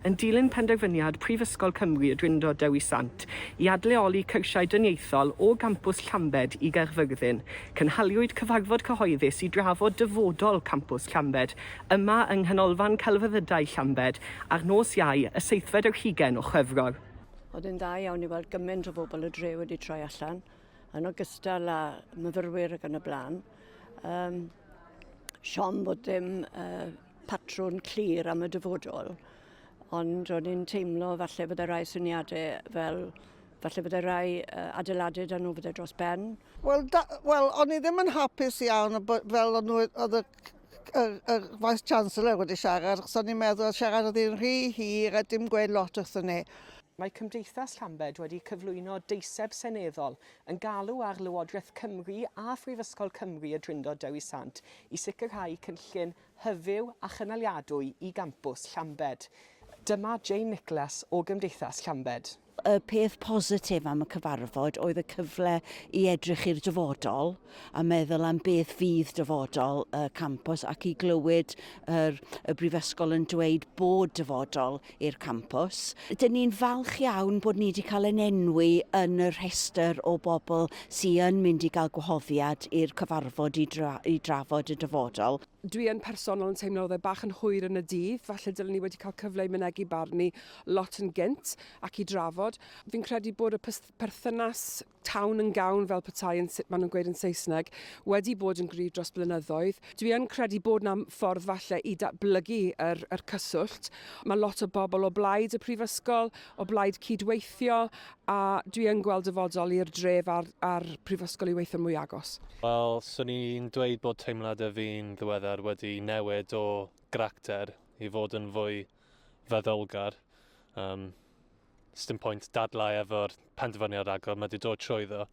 Yn dilyn penderfyniad Prifysgol Cymru y Drindod Dewi Sant i adleoli cyrsiau dyniaethol o gampws Llambed i Gaerfyrddin, cynhaliwyd cyfarfod cyhoeddus i drafod dyfodol campws Llambed yma yng Nghanolfan Celfyddydau Llambed ar nos Iau, y seithfed ar hugain o Chwefror. Oedd e'n dda iawn i weld gymaint o bobl y dre wedi troi allan, yn ogystal â myfyrwyr ac yn y blaen. Um, siom bod dim uh, patrwn clir am y dyfodol, ond o'n i'n teimlo falle bod y rai syniadau fel falle bod y rai uh, adeiladau dan nhw fydde dros ben. Wel, well, o'n i ddim yn hapus iawn fel o'n nhw, oedd y y, y Vice Chancellor wedi siarad, achos o'n i'n meddwl oedd siarad oedd hi'n rhy hir a dim gweud lot wrthyn ni. Mae Cymdeithas Llambed wedi cyflwyno deiseb seneddol yn galw ar Lywodraeth Cymru a Phrifysgol Cymru y Drindod Dewi Sant i sicrhau cynllun hyfyw a chynaliadwy i gampws Llambed. Dyma Jane Nicholas o Gymdeithas Llambed. Y peth positif am y cyfarfod oedd y cyfle i edrych i'r dyfodol a meddwl am beth fydd dyfodol y campws ac i glywed yr, y Brifysgol yn dweud bod dyfodol i'r campws. Dyn ni'n falch iawn bod ni wedi cael yn enwi yn y rhestr o bobl sy'n yn mynd i gael gwahoddiad i'r cyfarfod i, dra i drafod y dyfodol. Dwi yn personol yn teimlo oedd e bach yn hwyr yn y dydd, falle dylen ni wedi cael cyfle i mynegi barn ni lot yn gynt ac i drafod. Fi'n credu bod y perthynas town yn gown fel petai yn sut maen nhw'n gweud yn Saesneg, wedi bod yn gryf dros blynyddoedd. Dwi yn credu bod yna ffordd falle i datblygu yr, yr cyswllt. Mae lot o bobl o blaid y prifysgol, o blaid cydweithio, a dwi yn gweld dyfodol i'r dref a'r, a'r prifysgol i weithio'n mwy agos. Wel, swn i'n dweud bod teimladau fi'n ddiweddar wedi newid o gracter i fod yn fwy feddylgar. Um, sdim pwynt dadlau efo'r penderfyniad agor, mae wedi dod trwyddo.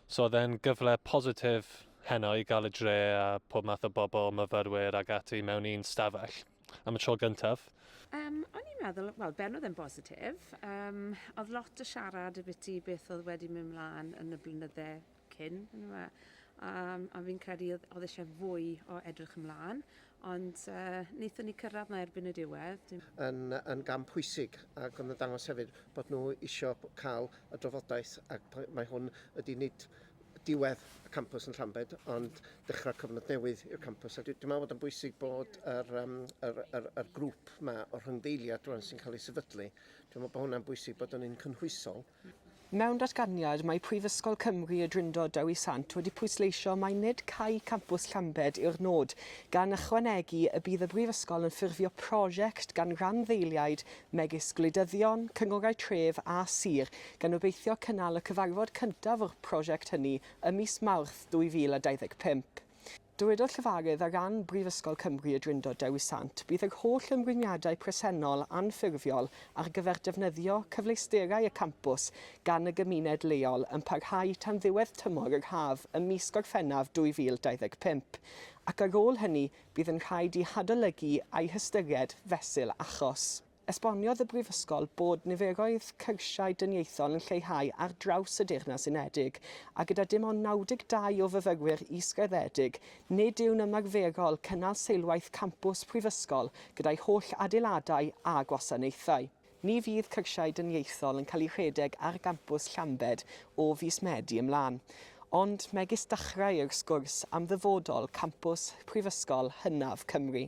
So oedd e'n gyfle positif heno i gael y dre a pob math o bobl, myfyrwyr ac ati mewn un stafell am y tro gyntaf. Um, o'n i'n meddwl, wel, ben oedd e'n bositif. Um, oedd lot o siarad y biti beth oedd wedi mynd mlaen yn y blynydde cyn yndyfe a a fi'n credu oedd oedd eisiau fwy o edrych ymlaen ond uh, wnaethon ni cyrraedd na erbyn y diwedd. Dim... Yn, yn gam pwysig ac yn ddangos hefyd bod nhw eisiau cael y drafodaeth ac mae hwn ydy nid diwedd y campus yn Llambed ond dechrau cyfnod newydd i'r campus a dwi'n meddwl bod yn bwysig bod yr, um, yr, yr, yr grŵp yma o'r rhyngdeiliad rwan sy'n cael ei sefydlu dwi'n meddwl bod hwnna'n bwysig bod yn un cynhwysol Mewn datganiad, mae Prifysgol Cymru Y Drindod Dewi Sant wedi pwysleisio mai nid cau campws Llambed yw'r nod, gan ychwanegu y bydd y brifysgol yn ffurfio prosiect gan randdeiliaid megis gwleidyddion, cynghorau tref a sir, gan obeithio cynnal y cyfarfod cyntaf o'r prosiect hynny ym mis Mawrth 2025. Dywedodd llefarydd ar ran Brifysgol Cymru y Drindod Dewi Sant, Bydd yr holl ymrwymiadau presennol anffurfiol ar gyfer defnyddio cyfleusterau y campws gan y gymuned leol yn parhau tan ddiwedd tymor yr haf ym mis Gorffennaf 2025 ac ar ôl hynny bydd yn rhaid i hadolygu a'i hystyried fesul achos. Esboniodd y Brifysgol bod niferoedd cyrsiau dyniaethol yn lleihau ar draws y Deyrnas Unedig, a gyda dim ond 92 o fyfyrwyr is-graddedig, nid yw'n ymarferol cynnal seilwaith campws prifysgol gyda'i holl adeiladau a gwasanaethau. Ni fydd cyrsiau dyniaethol yn cael eu rhedeg ar gampws Llambed o fis Medi ymlaen. Ond megis dechrau yw'r sgwrs am ddyfodol campws Prifysgol hynaf Cymru.